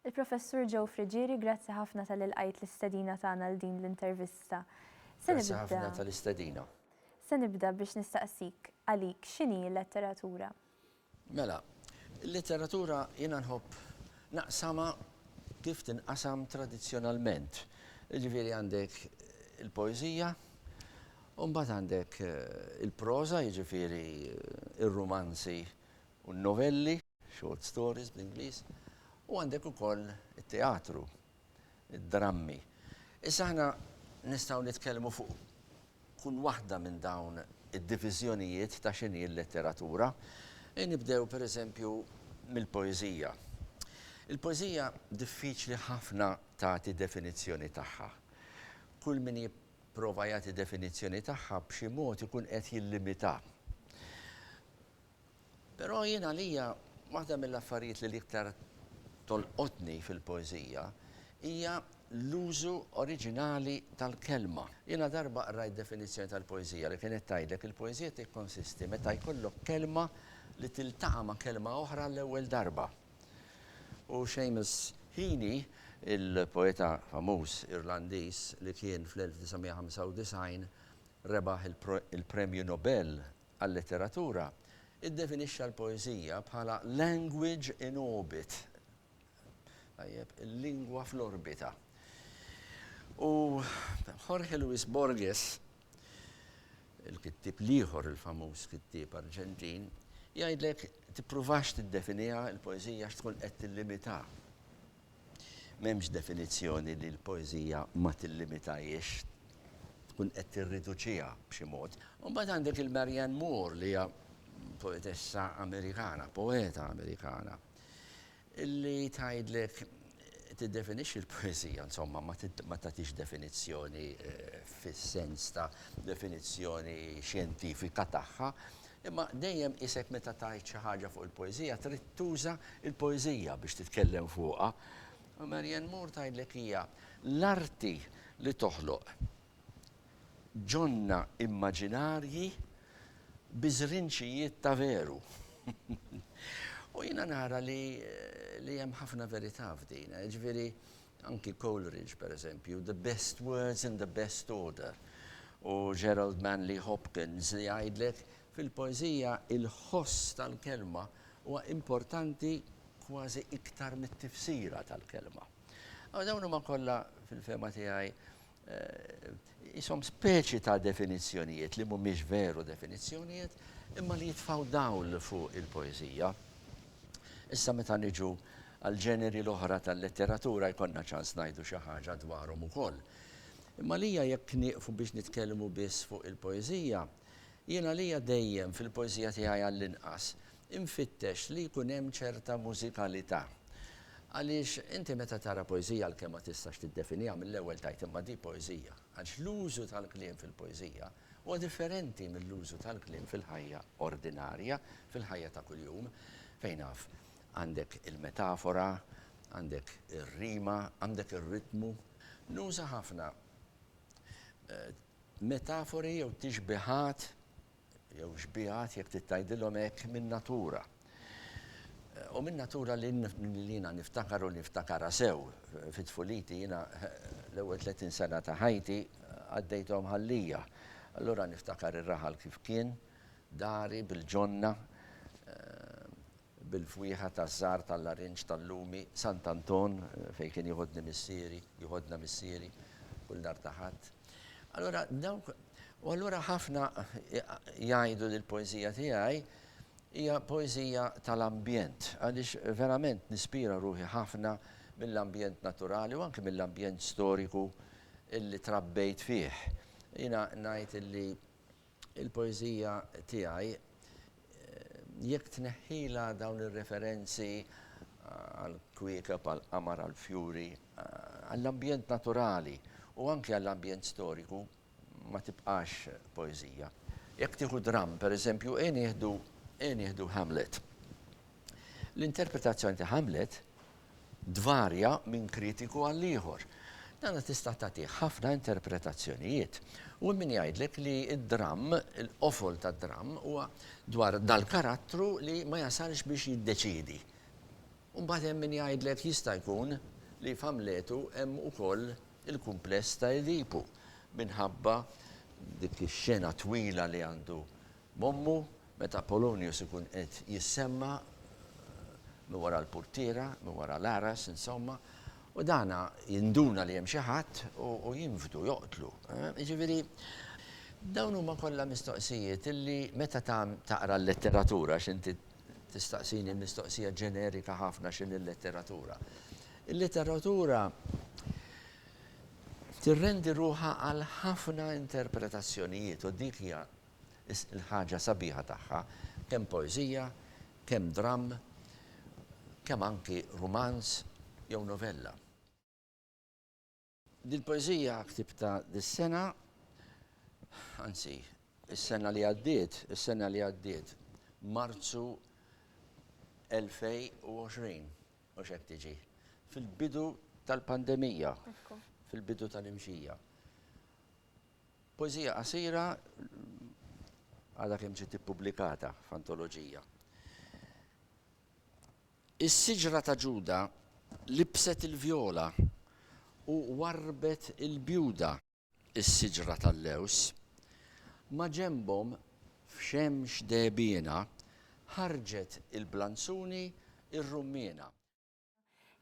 Il-Professur Joe Friggieri, grazzi ħafna talli lqajt l-istedina tagħna għal din l-intervista. Se nibda. Grazzi ħafna tal-istedina. Se nibda biex nistaqsik, għalik, x'inhi l-letteratura? Mela, il-letteratura jiena nħobb naqsamha kif tinqasam tradizzjonalment. Jiġifieri għandek il-poeżija, U mbagħad għandek il-proża, jiġifieri r-rumanzi u n-novelli, short stories bl-Ingliż, u għandek ukoll it-teatru, id-drammi. Issa aħna nistgħu nitkellmu fuq kull waħda minn dawn id-diviżjonijiet ta' x'inhi l-letteratura. Ejja nibdew pereżempju mill-poeżija. Il-poeżija diffiċli ħafna tagħti definizzjoni tagħha. Kull min Prova jagħti definizzjoni tagħha b'xi mod ikun qed jillimitha. Però jien għalija waħda mill-affarijiet li l-iktar tolqotni fil-poeżija hija l-użu oriġinali tal-kelma. Jiena darba qrajt definizzjoni tal-poeżija li kienet tgħidlek il-poeżija tikkonsisti meta jkollok kelma li tiltaqa' ma' kelma oħra għall-ewwel darba. U Seamus Heaney, il-poeta famuż Irlandiż li kien fl-1995 rebaħ il-Premju Nobel għal-Letteratura, iddefinixxa l-poeżija bħala language in orbit, tajjeb, il-lingwa fl-orbita. U Jorge Luis Borges il-kittieb l-ieħor il-famuż kittieb Arġentin, jgħidlek tippruvax tiddefiniha l-poeżija għax tkun qed tillimita. M'hemmx definizzjoni li l-poeżija ma tillimitajiex, tkun qed tirriduċiha b'xi mod. Imbagħad għandek il-Marianne Moore li hija poetessa Amerikana, poeta Amerikana. Li tgħidlek tiddefinixxi l-poeżija, insomma, ma tagħtix definizzjoni fis-sens ta' definizzjoni xjentifika tagħha, imma dejjem qisek meta tgħid xi ħaġa fuq il-poeżija trid tuża l-poeżija biex titkellem fuqha. U Marianne Moore tgħidlek hija l-arti li toħloq Ġonna immaġinarji bi żrinċijiet ta' veru. U jiena nara li li hemm ħafna verità f'din. Jiġifieri anki Coleridge pereżempju, the best words in the best order. U Gerald Manley Hopkins li jgħidlek fil-poeżija il-ħoss tal-kelma huwa importanti kważi iktar mit-tifsira tal-kelma. Dawn huma kollha fil-fehma tiegħi qishom speċi ta' definizzjonijiet li mhumiex veru definizzjonijiet imma li jitfgħu dawl fuq il-poeżija. Issa meta niġu għall-ġeneri l-oħra tal-letteratura jkollna ċans ngħidu xi ħaġa dwarhom ukoll. Imma għalija jekk nieqfu biex nitkellmu biss fuq il-poeżija, jien għalija dejjem fil-poeżija tiegħi għall-inqas Infittex li jkun hemm ċerta mużikalità. Għaliex inti meta tara poeżija għalkemm ma tistax tiddefiniha mill-ewwel tgħid imma di poeżija, għaliex l-użu tal-kliem fil-poeżija huwa differenti mill-użu tal-kliem fil-ħajja ordinarja, fil-ħajja ta' kuljum, fejn af għandek il-metafora, għandek ir-rima, għandek ir-ritmu. Nuża ħafna metafori jew tixbihat jew xbiehat, jekk trid tgħidilhom hekk, min-natura. U min-natura li jiena niftakar u niftakarha sew fi tfuliti, jiena l-ewwel 30 sena ta' ħajti għaddejthom ħallija. Allura niftakar ir-raħal kif kien, dari bil-ġonna, bil-fwieħa taż-żahar tal-larinġ tal-lumi, Sant' Anton, fejn kien jiħodni missieri, jiħodna missieri, kull nhar ta' Ħadd. Allura dawk, u allura ħafna jgħidu li l-poeżija tiegħi hija poeżija tal-ambjent, għaliex verament nispira ruħi ħafna mill-ambjent naturali u anki mill-ambjent storiku li trabbejt fih. Jiena ngħid li il-poeżija tiegħi, jekk tneħħilha dawn ir-referenzi għall-kwiekeb, għall-qamar, għall-fjuri, għall-ambjent naturali u anki għall-ambjent storiku, ma tibqax poeżija. Jekk tieħu dramm, per eżempju, ejja nieħdu, ejja nieħdu Hamlet. L-interpretazzjoni ta' Hamlet, tvarja minn kritiku għal ieħor. Dana tista' tagħtih ħafna interpretazzjonijiet. U hemm min jgħidlek li d-dramm, il-qofol tad-dramm huwa dwar dal-karattru li ma jasalx biex jiddeċiedi. U mbagħad hemm min jgħidlek jista' jkun li f'Amletu hemm ukoll il-kumpless ta' Edipu minħabba dik ix-xena twila li għandu M'ommu, meta Polonius ikun qed jissemma' minn wara l-purtiera, minn wara l-għaras, insomma, u dan jinduna li hemm xi ħadd u jinfdu, joqtlu. Jiġifieri, dawn huma kollha mistoqsijiet li meta taqra l-letteratura, għax inti tistaqsini mistoqsija ġenerika ħafna x'inhi l-letteratura. Il-letteratura tirrendi ruħha għal ħafna interpretazzjonijiet u dik hija il-ħaġa sabiħa tagħha, kemm poeżija, kemm dramm, kemm anki rumanz jew novella. Dil-poeżija ktibtha dis-sena, anzi, is-sena li għaddiet, is-sena li għaddiet, Marzu 2020, mhux hekk tiġi, fil-bidu tal-pandemija, fil-bidu tal-imxija. Poeżija qasira għadha kemm ġiet ippubblikata f'antoloġija. Is-siġra ta' Ġuda libset il-vjola u warrbet il-bjuda. Is-siġra tal-lews, maġenbhom f'xemx dehbiena, ħarġet il-blanzuni r-rummiena.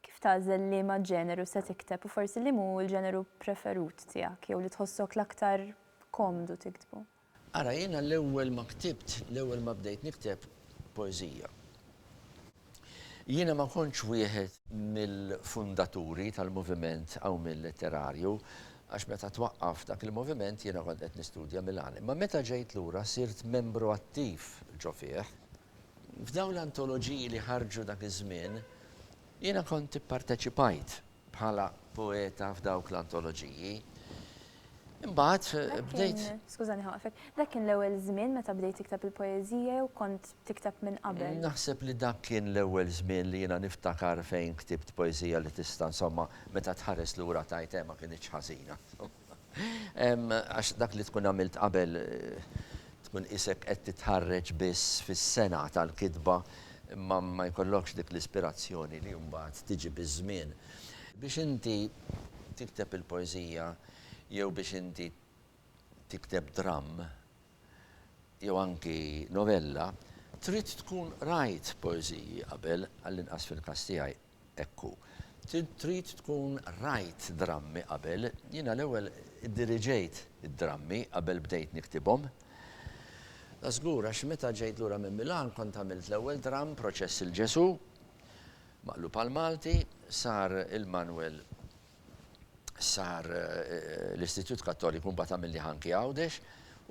Kif tagħżel liema ġeneru se tikteb u forsi liemu hu l-ġeneru preferut tiegħek jew li tħossok l-aktar komdu tiktbu? Ara, jiena l-ewwel ma ktibt, l-ewwel ma bdejt nikteb poeżija, jiena ma kontx wieħed mill-fundaturi tal-moviment Qawmien Letterarju għax meta twaqqaf dak il-moviment jiena kont qed nistudja Milan. Imma meta ġejt lura sirt membru attiv ġo fih. F'dawn l-antoloġiji li ħarġu dak iż-żmien, jiena kont ipparteċipajt bħala poeta f'dawk l-antoloġiji. Imbagħad bdejt. Skużani ħawqfek, dak kien l-ewwel żmien meta bdejt tikteb il-poeżija jew kont tikteb minn qabel? Naħseb li dak kien l-ewwel żmien li jiena niftakar fejn ktibt poeżija li tista' insomma meta tħares lura tgħid eh ma kinitx ħażina. Għax dak li tkun għamilt qabel tkun qisek qed titħarreġ biss fis-sengħa tal-kitba imma ma jkollokx dik l-ispirazzjoni li mbagħad tiġi biż-żmien. Biex inti tikteb il-poeżija jew biex inti tikteb dramm jew anki novella trid tkun qrajt poeżiji qabel, għallinqas fil-każ tiegħi. Hekk hu. Trid tkun rajt drammi qabel. Jiena l-ewwel iddiriġejt id-drammi qabel bdejt niktibhom. Żgur, għax meta ġejt lura minn Milan kont għamilt l-ewwel dramm, Proċess il-Ġesù, maqlub għall-Malti, sar il-manwel, sar l-Istitut Kattoliku mbagħad għamilni Ħanki Għawdex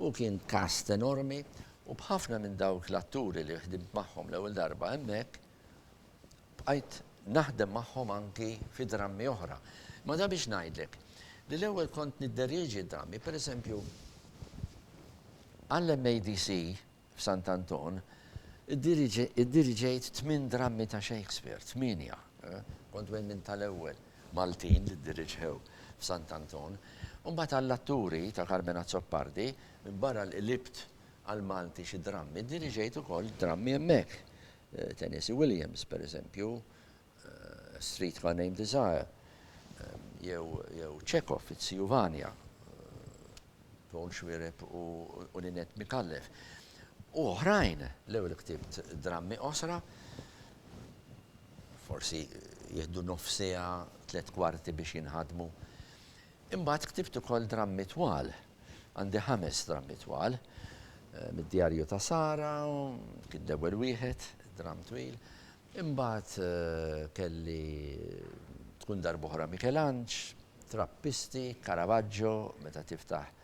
u kien cast enormi u b'ħafna minn dawk l-atturi li ħdimt magħhom l-ewwel darba hemmhekk, bqajt naħdem magħhom anki fi drammi oħra. Imma dan biex ngħidlek li l-ewwel kont nidderieġi d-drammi, pereżempju għall-MADC f'Sant Anton iddiriġejt tmien drammi ta' Shakespeare, tmienja. Kont wieħed minn tal-ewwel Maltin li ddiriġew f'Sant Anton. U mbagħad għall-atturi ta' Carmen Azzopardi, minbarra li qlibt għall-Malti xi drammi, diriġejt ukoll drammi hemmhekk. Tennessee Williams, pereżempju, Street ma' Name Desire, jew Chekhov, It-Siju Vanya, Paul Schwireb u Lynette Micallef, u oħrajn. L-ewwel ktibt drammi qosra, forsi jieħdu nofs siegħa, tliet kwarti biex jinħadmu. Imbagħad ktibt ukoll drammi twal. Għandi ħames drammi twal. Mid-djarju ta' Sara kien l-ewwel wieħed, dramm twil. Imbagħad kelli Tkun Darb'oħra Mikelanġ, Trappisti, Caravaggio, Meta Tiftaħ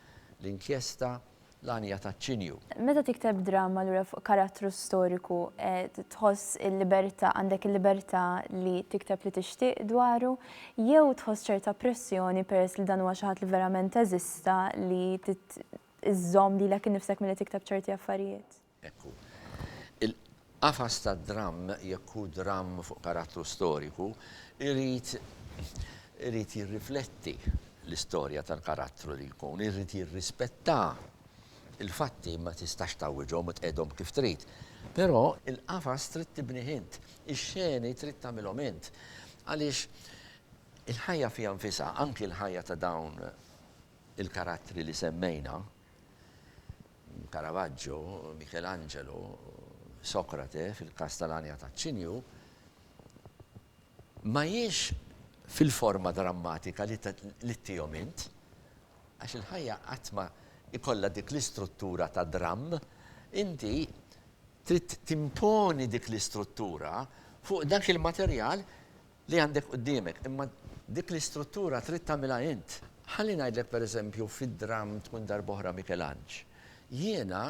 l-Inkjesta, l-għanja taċ-ċinju. Meta tikteb dramma allura fuq karattru storiku tħoss il-libertà, għandek il-libertà li tikteb li tixtieq dwaru jew tħoss ċerta pressjoni peress li dan huwa xi ħadd li verament eżista li trid iżżomm lilek innifsek milli tikteb ċerti affarijiet? Hekk hu. Il-qafas tad-dramm, jekk hu dramm fuq karattru storiku, irid irid jirrifletti l-istorja tal-karattru li jkun, irid jirrispetta. Il-fatti ma tistax tgħawwiġhom u tqegħidhom kif trid. Però il-qafas trid tibnih int, ix-xeni trid tagħmilhom int. Għaliex il-ħajja fiha nfisha, anki l-ħajja ta' dawn il-karattri li semmejna, Caravaggio, Michelangelo, Socrate, fil-każ tal-għanja taċ-ċinju, ma hijiex fil-forma drammatika li ttihom int, għax il-ħajja qatt ma jkollha dik l-istruttura ta' dramm, inti trid timponi dik l-istruttura fuq dak il-materjal li għandek quddiemek, imma dik l-istruttura trid tagħmilha int. Ħalli ngħidlek pereżempju fid-dramm Tkun Darb'oħra Mikelanġ, jiena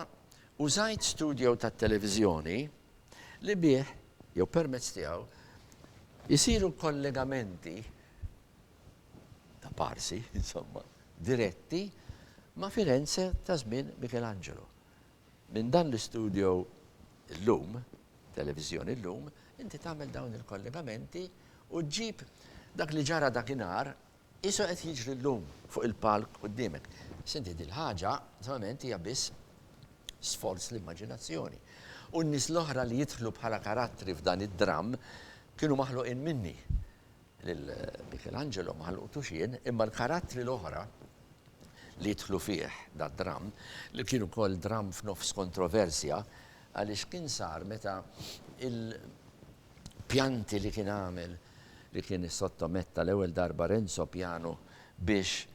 użajt studio tat-televiżjoni li bih, jew permezz tiegħu, isiru kollegamenti, ta' parsi, insomma, diretti ma' Firenze ta' żmien Mikelanġelu. Minn dan l-istudio llum, televiżjoni llum, inti tagħmel dawn il-kollegamenti u ġġib dak li ġara dakinhar qiesu qed jiġri llum fuq il-palk quddiemek. Sinti, din l-ħaġa, naturalment, hija biss sforz l-immaġinazzjoni. U n-nies l-oħra li jidħlu bħala karattri f'dan id-dramm kienu maħluqin minni. Lil Michelangelo ma ħloqtux jien, imma l-karattri l-oħra li jidħlu fih dad-dramm, li kien ukoll dramm f'nofs kontroversja għaliex kien sar meta l-pjanti li kien għamel, li kien issottomett tal-ewwel darba Renzo Piano biex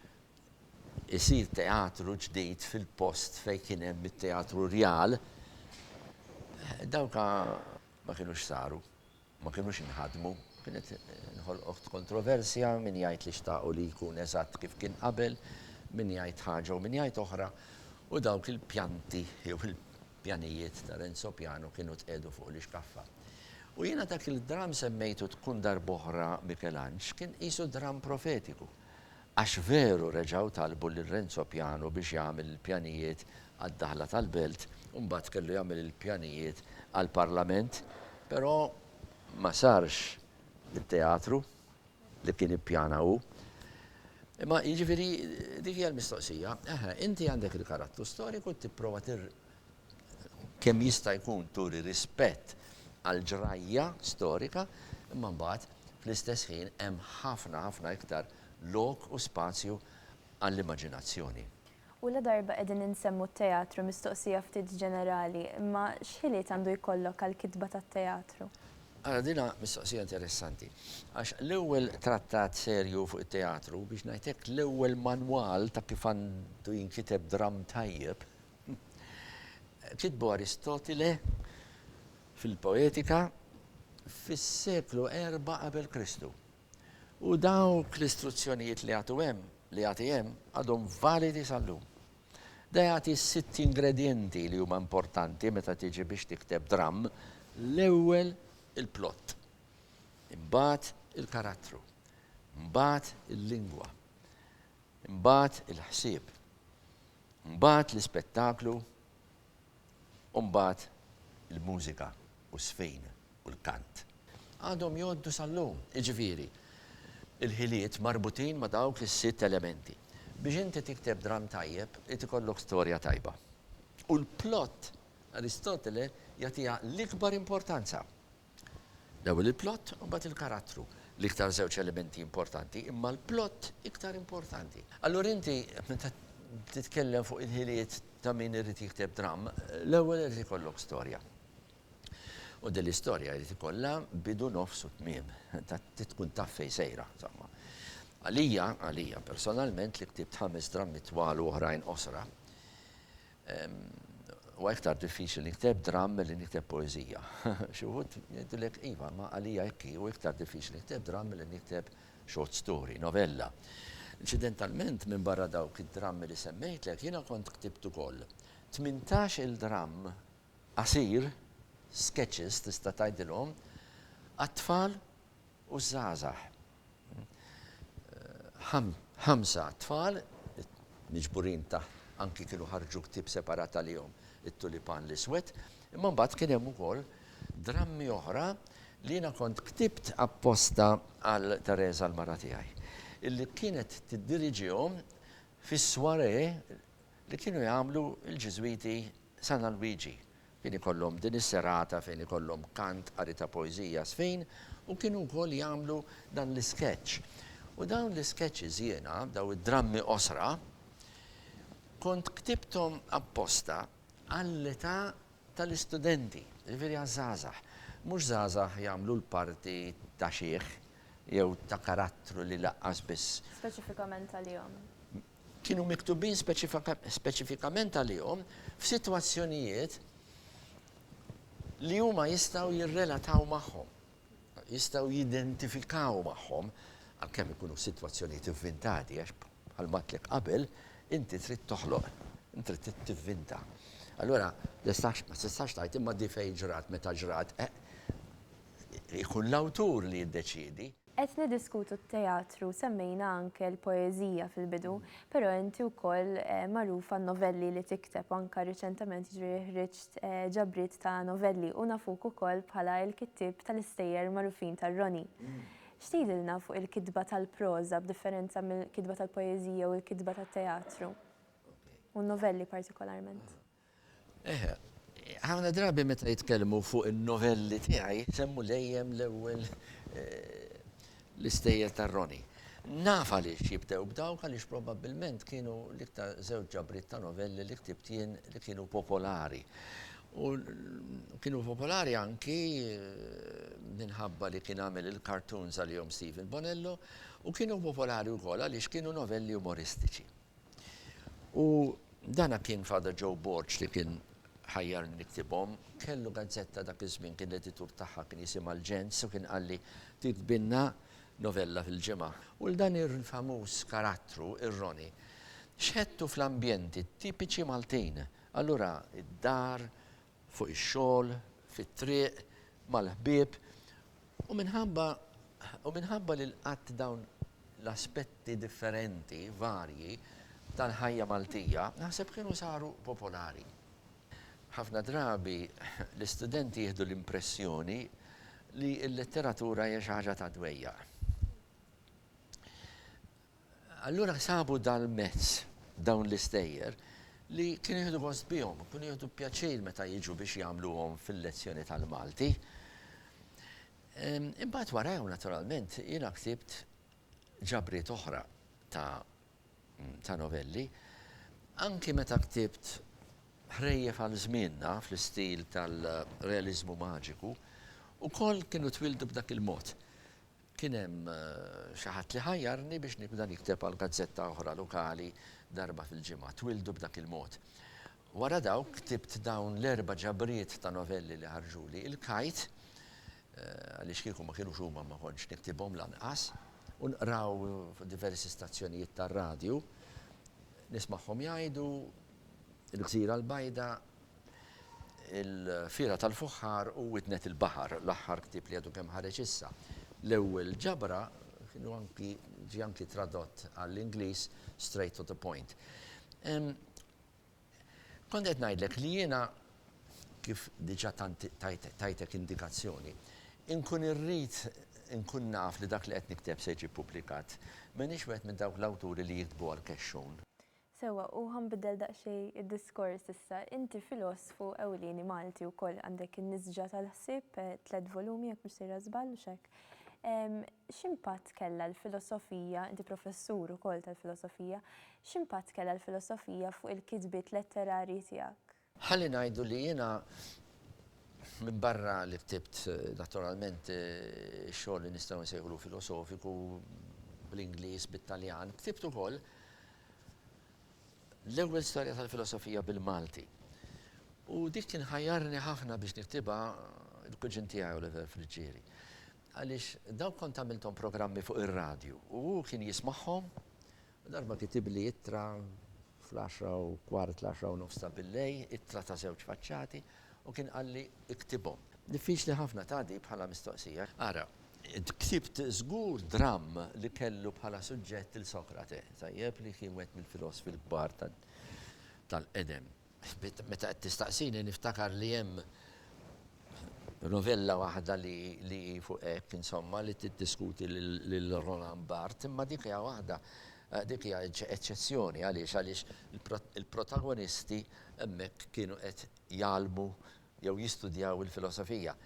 isir teatru ġdid fil-post fejn kien hemm it-Teatru Rjal, dawk ma kinux saru. ma kinux inħadmu, kienet inħolqot kontroversja, min jgħid li xtaqu li jkun eżatt kif kien qabel, min jgħid ħaġa u min jgħid oħra, u dawk il-pjanti jew il-pjanijiet ta' Renzo Piano kienu tqiegħdu fuq l-ixkaffa. U jiena dak il-dramm semmejtu tkun darb'oħra Mikelanġ kien qisu dramm profetiku, Għax veru reġgħu talbu lil Renzo Piano biex jagħmel il-pjanijiet għad-daħla tal-Belt u mbagħad kellu jagħmel il-pjanijiet għall-Parlament, però ma sarx it-teatru li kien ippjana hu. Imma jiġifieri dik hija l-mistoqsija, eħe, inti għandek il-karattu storiku tipprova kemm jista' jkun turi rispett għall-ġrajja storika, imma mbagħad fl-istess ħin hemm ħafna ħafna iktar lok u spazju għall-immaġinazzjoni. U ladarba qegħdin insemmu t-teatru, mistoqsija ftit ġenerali, imma x'ħiliet għandu jkollok għall-kitba tat-teatru? Ara din hi mistoqsija interessanti, għax l-ewwel trattat serju fuq it-teatru, biex ngħid hekk, l-ewwel manwal ta' kif għandu jinkiteb dramm tajjeb, Kitbu Aristotile fil-Poetika fis-seklu erba' qabel Kristu. U dawk l-istruzzjonijiet li jagħtu hemm, li jagħti hemm, għadhom validi sal-lum. Da jagħti sitt ingredjenti li huma importanti meta tiġi biex tikteb dramm, l-ewwel il-plott, imbagħad il-karattru, mbagħad il-lingwa, Imbagħad il-ħsieb. Imbagħad l-ispettaklu u mbagħad il-mużika u ż-żfin u l-kant. Għadhom jgħoddu sal-lum, jiġifieri, il-ħiliet marbutin ma' dawk is-sitt elementi. Biex inti tikteb dramm tajjeb irid ikollok storja tajba. U l-plott, Aristotele jagħtiha l-ikbar importanza. L-ewwel il-plott u mbagħad il-karattru. L-iktar żewġ elementi importanti, imma l-plott iktar importanti. Allura inti meta titkellem fuq il-ħiliet ta' min irid jikteb dramm, l-ewwel irid ikollok storja. U din l-istorja jrid ikollha bidu nofs u tmiem, ta' tkun taf fejn sejra, insomma. Għalija, għalija personalment li ktibt ħames drammi twal u oħrajn qosra, Huwa iktar diffiċli li nikteb dramm milli nikteb poeżija. Xi wħud jgħidulek, iva, imma għalija hekk hi, hu iktar diffiċli nikteb dramm milli nikteb short story, novella. Inċidentalment, minbarra dawk id-drammi li semmejtlek, jiena kont ktibt ukoll tmintax-il dramm qasir, sketches tista' tgħidilhom, għat-tfal u ż-żgħażagħ. Ħamsa tfal miġburin taħt anki kienu ħarġu ktieb separat għalihom It-Tulipan l-Iswed, imma mbagħad kien hemm ukoll drammi oħra li jiena kont ktibt apposta għal Teresa l-mara tiegħi, illi kienet tiddiriġihom fis-soirée li kienu jagħmlu l-Ġiżwiti San Alwiġi Kien ikollhom din is-serata fejn ikollhom kant, qari ta' poeżija, żfin u kienu wkoll jagħmlu dan l-isketch. U dawn l-isketches jiena, dawn id-drammi qosra, kont ktibthom apposta għall-età tal-istudenti, jiġifieri għaż-żgħażagħ. Mhux żgħażagħ jagħmlu l-parti ta' xiħ jew ta' karattru li laqqas biss. Speċifikament għalihom. kienu miktubin speċifikament għalihom f'sitwazzjonijiet li huma jistgħu jirrelataw magħhom, jistgħu jidentifikaw magħhom, għalkemm ikunu sitwazzjonijiet ivvintati għax bħal matlik qabel inti trid toħloq, inti trid tivvinta. Allura, ma tistax tgħid imma di fejn ġrat meta ġrat, ikun l-awtur li jiddeċiedi. Qed niddiskutu t-teatru, semmejna anke l-poeżija fil-bidu, però inti wkoll magħruf għan-novelli li tikteb u anke riċentament jiġifieri ħriġt ġabriet ta' novelli u nafuk ukoll bħala l-kittieb tal-istejjer magħrufin tar-Roni. X'tgħidilna fuq il-kitba tal-proża b'differenza mill-kitba tal-poeżija u l-kitba tat-teatru u n-novelli partikolarment? Ħafna drabi meta jitkellmu fuq in-novelli tiegħi jsemmu dejjem l-ewwel l-istejjer tar-Roni. Naf għaliex jibdew b'dawk għaliex probabbilment kienu l-iktar żewġ ġabriet ta' novelli li ktibt jien li kienu popolari. U kienu popolari anki minħabba li kien għamel il-cartoons għalihom Stephen Bonello u kienu popolari wkoll għaliex kienu novelli umoristiċi. U dana kien Father Joe Borg li kien ħajjarni niktibhom. Kellu gazzetta dak iż-żmien kien l-editur tagħha kien jisimha l-Ġens u kien qalli tiktbilna novella fil-ġimgħa. U 'l dan il-famuż karattru, ir-Roni, xħedtu fl-ambjenti tipiċi Maltin. Allura d-dar fuq ix-xogħol, fit-triq, mal-ħbieb, u minħabba u minħabba li l-qatt dawn l-aspetti differenti, varji, tal-ħajja Maltija, naħseb kienu saru popolari. Ħafna drabi l-istudenti jieħdu l-impressjoni li l-letteratura hija xi ħaġa tad-dwejjaq. Allura sabu dal-mezz dawn l-istejjer li kienu jieħdu gost bihom, kienu jieħdu pjaċir meta jiġu biex jagħmluhom fil-lezzjoni tal-Malti. Imbagħad warahom naturalment jiena ktibt ġabriet oħra ta' ta' novelli. Anki meta ktibt Ħrejjef għal żmienna fl-istil tal-realiżmu maġiku, ukoll kienu twildu b'dak il-mod. Kien hemm xi ħadd li ħajjarni biex nibda nikteb għal gazzetta oħra lokali darba fil-ġimgħa, Twildu b'dak il-mod. Wara dawk ktibt dawn l-erba' ġabriet ta' novelli li ħarġuli, Il-Kajt, għaliex kieku ma kienux huma ma kontx niktibhom lanqas, u nqraw fuq diversi stazzjonijiet tar-radju, nismagħhom jgħidu, Il-Gżira l-Bajda Il-Fiera tal-Fuħħar u Widnet il-Baħar, l-aħħar ktieb li għadu kemm ħareġ issa. L-ewwel ġabra kienu anki ġie anki tradott għall-Ingliż Straight to the Point. Kont qed ngħidlek li jiena kif diġà tajtek indikazzjoni, inkun irrid inkun naf li dak li qed nikteb se jiġi ppubblikat. M'iniex wieħed minn dawk l-awturi li jiktbu għall-kexxun. Sewwa, u ħa nbiddel daqsxejn id-diskors issa. Inti filosfu ewlieni Malti wkoll, għandek In-Nisġa tal-Ħsieb, tliet volumi jekk mhux sejra żball, mhux hekk? X'impatt kellha l-filosofija, inti professur ukoll tal-filosofija, x'impatt kellha l-filosofija fuq il-kitbiet letterarji tiegħek? Ħalli ngħidu li jiena, minbarra li ktibt naturalment ix-xogħol li nistgħu nsejħulu filosofiku bl-Ingliż, bit-Taljan, ktibt ukoll l-ewwel storja tal-filosofija bil-Malti. U dik kien ħajjarni ħafna biex niktibha l-kuġin tiegħi Oliver Friggieri. Għaliex dawk kont għamilthom programmi fuq ir-radju u hu kien jismagħhom u darba kitibli ittra fl-għaxra u kwart, l-għaxra u nofs ta' billejl, ittra ta' żewġ faċċati u kien qalli, Iktibhom. Diffiċli ħafna tgħaddi bħala mistoqsija. Ara, int ktibt żgur dramm li kellu bħala suġġett lil Sokrate, tajjeb, li kien wieħed mill-filosfi l-kbar tal-qedem. Meta qed tistaqsini niftakar li hemm Novella waħda li hi fuq hekk, insomma, li tiddiskuti lil Roland Barthes, imma dik hija waħda, dik hija eċċezzjoni. Għaliex? Għaliex il-protagonisti hemmhekk kienu qed jgħallmu jew jistudjaw il-filosofija.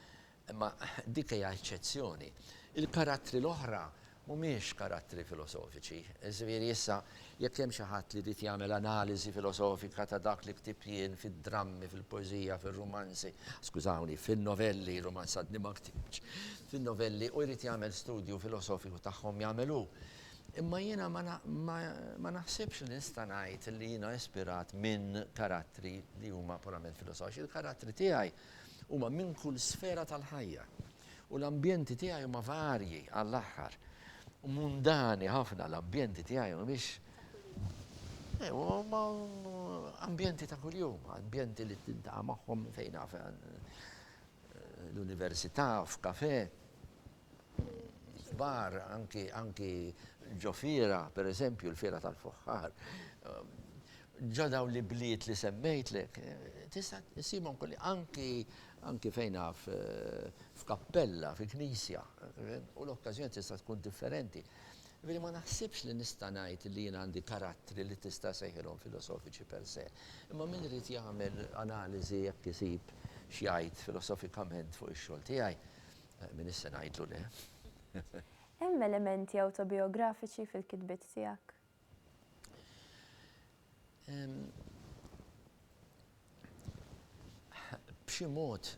Imma dik hija eċċezzjoni. Il-karattri l-oħra Mhumiex karattri filosofiċi. Iżviri, issa, jekk hemm xi ħadd li jrid jagħmel analiżi filosofika ta' dak li ktibt jien fid-drammi, fil-poeżija, fir-rumanzi, skużawni, fin-novelli, rumanz għadni ma ktibtx, fin-novelli, u jrid jagħmel studju filosofiku tagħhom, jagħmel hu. Imma jiena ma, ma, ma naħsibx li nista' ngħid li jiena ispirat minn karattri li huma purament filosofiċi. Il-karattri tiegħi huma minn kull sfera tal-ħajja. U l-ambjenti tiegħi huma varji għall-aħħar. Mundani ħafna l-ambjenti tiegħi mhumiex eh, huma ambjenti ta' kuljum, ambjenti li tintaqa' magħhom fejn naf eh, l-università, f'kafe, bar, anki anki ġofira, per eżempju, l-fira tal-fuħħar. Ġo dawn l-ibliet li semmejtlek, tista' ssibhom kullimkien, anki, anki fejn naf, f'kappella, fi knisja, u l-okkażjoni tista' tkun differenti. Jiġifieri ma naħsibx li nista' ngħid li jien għandi karattri li tista' ssejħilhom filosofiċi per se. Imma min irid jagħmel analiżi jekk isib x'jgħid filosofikament fuq ix-xogħol tiegħi, min issa ngħidlu le? Hemm elementi awtobijografiċi fil-kitbiet tiegħek? B'xi mod,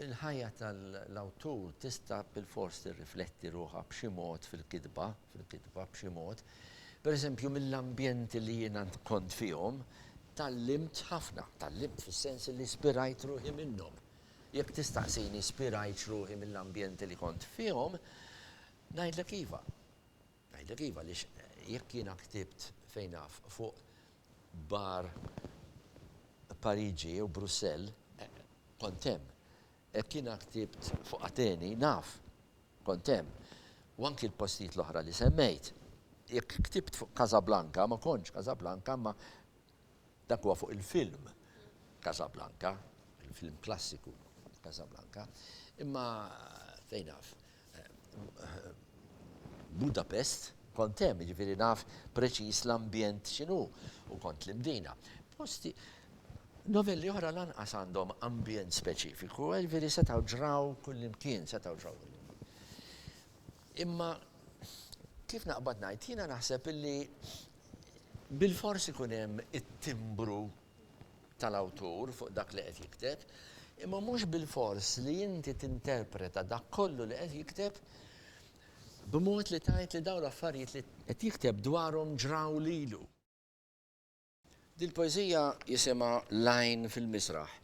il-ħajja tal-awtur tista' bilfors tirrifletti ruħha b'xi mod fil-kitba, fil-kitba b'xi mod. Per eżempju, mill-ambjenti li jiena kont fihom, tgħallimt ħafna, tgħallimt fis-sens li spirajt ruħi minnhom. Jekk tistaqsini spirajtx ruħi mill-ambjenti li kont fihom, ngħidlek iva. Ngħidlek iva għaliex jekk jiena ktibt fejn naf fuq bar Pariġi jew Brussell kont hemm. Jekk jiena ktibt fuq Ateni naf kont hemm. U anki l-postijiet l-oħra li semmejt. Jekk ktibt fuq Casablanca ma kontx Casablanca imma Dak huwa fuq il-film Casablanca, il-film klassiku Casablanca, imma fejn naf Budapest kont hemm, jiġifieri naf preċiż l-ambjent x'inhu u kont l-Imdina. Posti novelli oħra lanqas għandhom ambjent speċifiku, jiġifieri setgħu ġraw kullimkien, setgħu ġraw kullimkien. Imma kif naqbad ngħid, jiena naħseb illi Bilfors ikun hemm it-timbru tal-awtur fuq dak li qed jikteb, imma mhux bilfors li inti tinterpreta dak kollu li qed jikteb b'mod li tgħid li dawn l-affarijiet li qed jikteb dwarhom ġraw lilu. Dil-poeżija jisimha L-għajn fil-miżraħ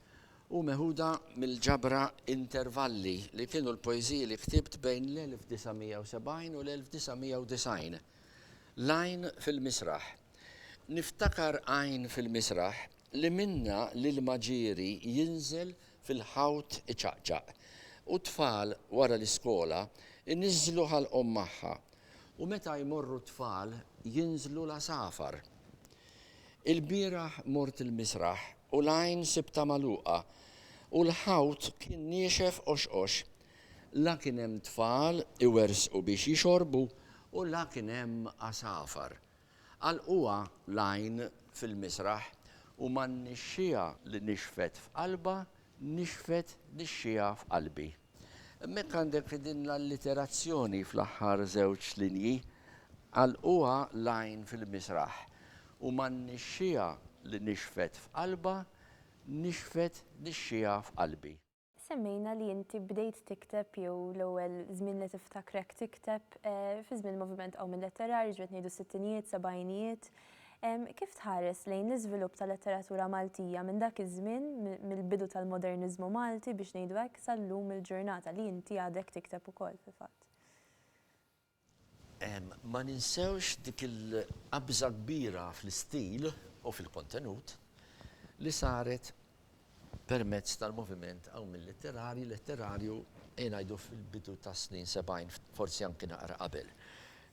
u meħuda mill-ġabra Intervalli li kienu l-poeżiji li ktibt bejn l-1970 u l-1990. L-għajn fil-misraħ Niftakar għajn fil-misraħ li minnha l-ilma ġieri jinżel fil-ħawt iċaqċaq u t-tfal wara l-iskola jniżżlu ħalqhom magħha u meta jmorru t-tfal jinżlu l-għasafar. Ilbieraħ mort il-misraħ u l-għajn sibtha magħluqa u l-ħawt kien niexef qoxqox La kien hemm tfal iwerżqu biex jixorbu u la kien hemm għasafar. Għalquha l-għajn fil-misraħ u man-nixxiegħa li nixfet f'qalbha nixfet nixxiegħa f'qalbi. Hemmhekk għandek din l-alliterazzjoni fl-aħħar żewġ linji, Għalquha l-għajn fil-misraħ u man-nixxiegħa li nixfet f'qalbha nixfet nixxiegħa f'qalbi. Semmejna li inti bdejt tikteb jew l-ewwel żmien li tiftakrek tikteb fi żmien il-moviment qawmi letterarju, ġifieri qed ngħidu s-sittinijiet, sebgħinijiet. Kif tħares lejn l-iżvilupp tal-letteratura Maltija minn dak iż-żmien, mill-bidu tal-moderniżmu Malti biex ngħidu hekk, sal-lum il-ġurnata li inti għadek tikteb ukoll fil-fatt? Ma ninsewx dik il-qabża kbira fl-istil u fil-kontenut li saret permezz tal-moviment hawn mil-litterarji, letterarju, ejja ngħidu fil-bidu tas-snin sebgħin, forsi anki naqra qabel.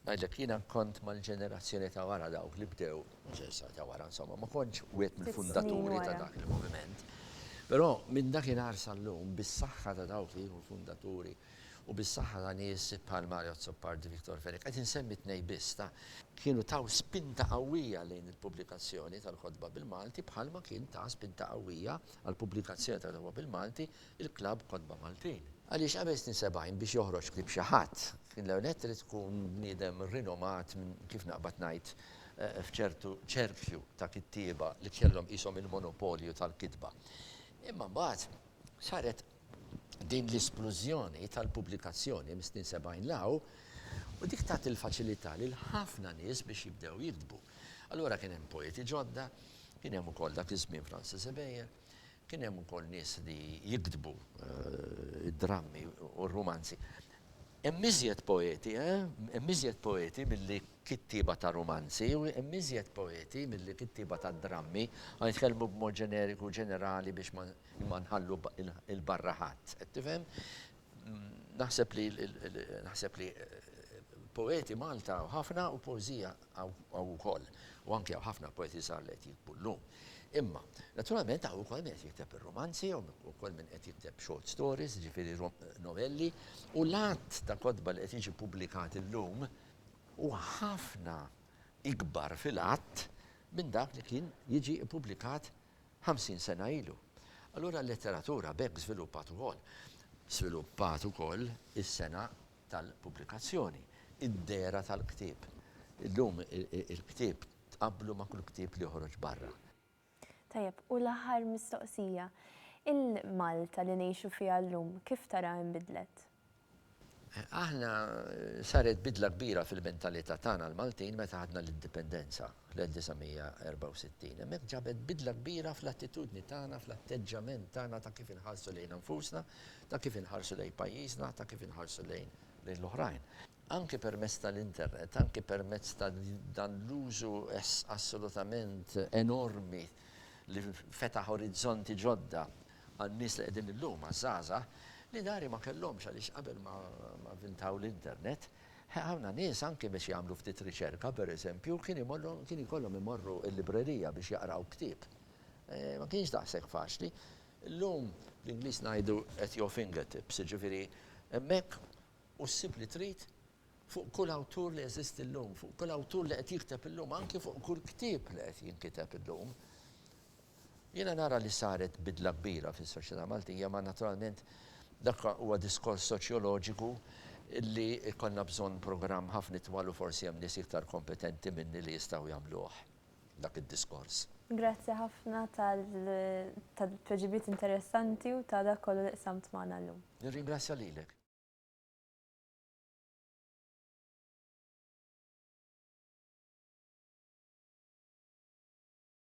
Ngħidlek, jiena kont mal-ġenerazzjoni ta' wara dawk li bdew, ġenerazzjoni ta' wara insomma, ma kontx wieħed mill-fundaturi ta' dak il-moviment. Però minn dakinhar sal-lum, bis-saħħa ta' dawk li kienu l-fundaturi, u bis-saħħa ta' nies bħal Mario Azzopardi, Victor Fenech, qed insemmi tnejn biss ta'. Kienu taw spinta qawwija lejn il-pubblikazzjoni tal-kotba bil-Malti bħalma kien ta spinta qawwija għall-pubblikazzjoni tal-kotba bil-Malti l-klabb Kotba Maltin. Għaliex qabel snin 70 biex joħroġ ktieb xi ħadd, kien l-ewwel nett irid tkun bniedem rinomat minn, kif naqbad ngħid, f'ċertu ċerkju ta' kittieba li kellhom qishom il-monopolju tal-kitba. Imma mbagħad saret Din l-isplużjoni tal-pubblikazzjoni mis-snin 70 'l hawn u dik tat il-faċilità lil ħafna nies biex jibdew jiktbu. Allura kien hemm poeti ġodda, kien hemm ukoll dak iż-żmien Francis Ebejer, kien hemm ukoll nies li jiktbu d-drammi u r-rumanzi. Hemm iżjed poeti, eh? Hemm iżjed poeti milli kittieba ta' rumanzi, hemm iżjed poeti milli kittieba ta' drammi, ħa nitkellmu b'mod ġeneriku u ġenerali biex ma nħallu 'l barra ħadd. Qed tifhem? Naħseb li naħseb li poeti Malta hawn ħafna u poeżija Hawn ukoll, u anki hawn ħafna poeti żgħar li qed jikbru llum. Imma, naturalment hawn ukoll min qed jikteb ir-rumanzi, hawn ukoll min qed jikteb short stories, jiġifieri novelli, u l-għadd ta' kotba li qed jiġi pubblikat illum huwa ħafna ikbar fil-għadd minn dak li kien jiġi ppubblikat ħamsin sena ilu. Allura l-letteratura b'hekk żviluppat ukoll. Żviluppat ukoll is-sengħa tal-pubblikazzjoni, id-dehra tal-ktieb. Illum il-ktieb tqabblu ma' kull ktieb li joħroġ barra. Tajjeb, u l-aħħar mistoqsija, il-Malta li ngħixu fiha llum kif taraha inbidlet? Aħna saret bidla kbira fil-mentalità tagħna l-Maltin meta ħadna l-Indipendenza. fl-1964. Hemmhekk ġabet bidla kbira fl-attitudni tagħna, fl-atteġġjament tagħna ta' kif inħarsu lejna nfusna, ta' kif inħarsu lejn pajjiżna, ta' kif inħarsu lejn l-oħrajn. Anki permezz tal-internet, anki permezz ta' dan l-użu assolutament enormi li fetaħ orizzonti ġodda għan-nies li qegħdin illum, għaż-żgħażagħ, li dari ma kellhomx għaliex qabel ma vvintaw l-internet, Ħafna nies anki biex jagħmlu ftit riċerka, pereżempju, kien imollhom kien ikollhom imorru l-librerija biex jaqraw ktieb. Ma kienx daqshekk faċli. Illum bl-Ingliż ngħidu at your fingertips, jiġifieri hemmhekk u ssib li trid fuq kull awtur li jeżisti llum, fuq kull awtur li qed jikteb illum, anki fuq kull ktieb li qed jinkiteb illum. Jiena nara li saret bidla kbira fis-soċjetà Maltija ma naturalment dak huwa diskors soċjoloġiku li jkollna bżonn programm ħafna itwal u forsi hemm nies iktar kompetenti minni li jistgħu jagħmluh dak id-diskors. Grazzi ħafna tal-tweġibiet interessanti u ta' dak kollu li qsamt magħna llum. Nirringrazzja lilek.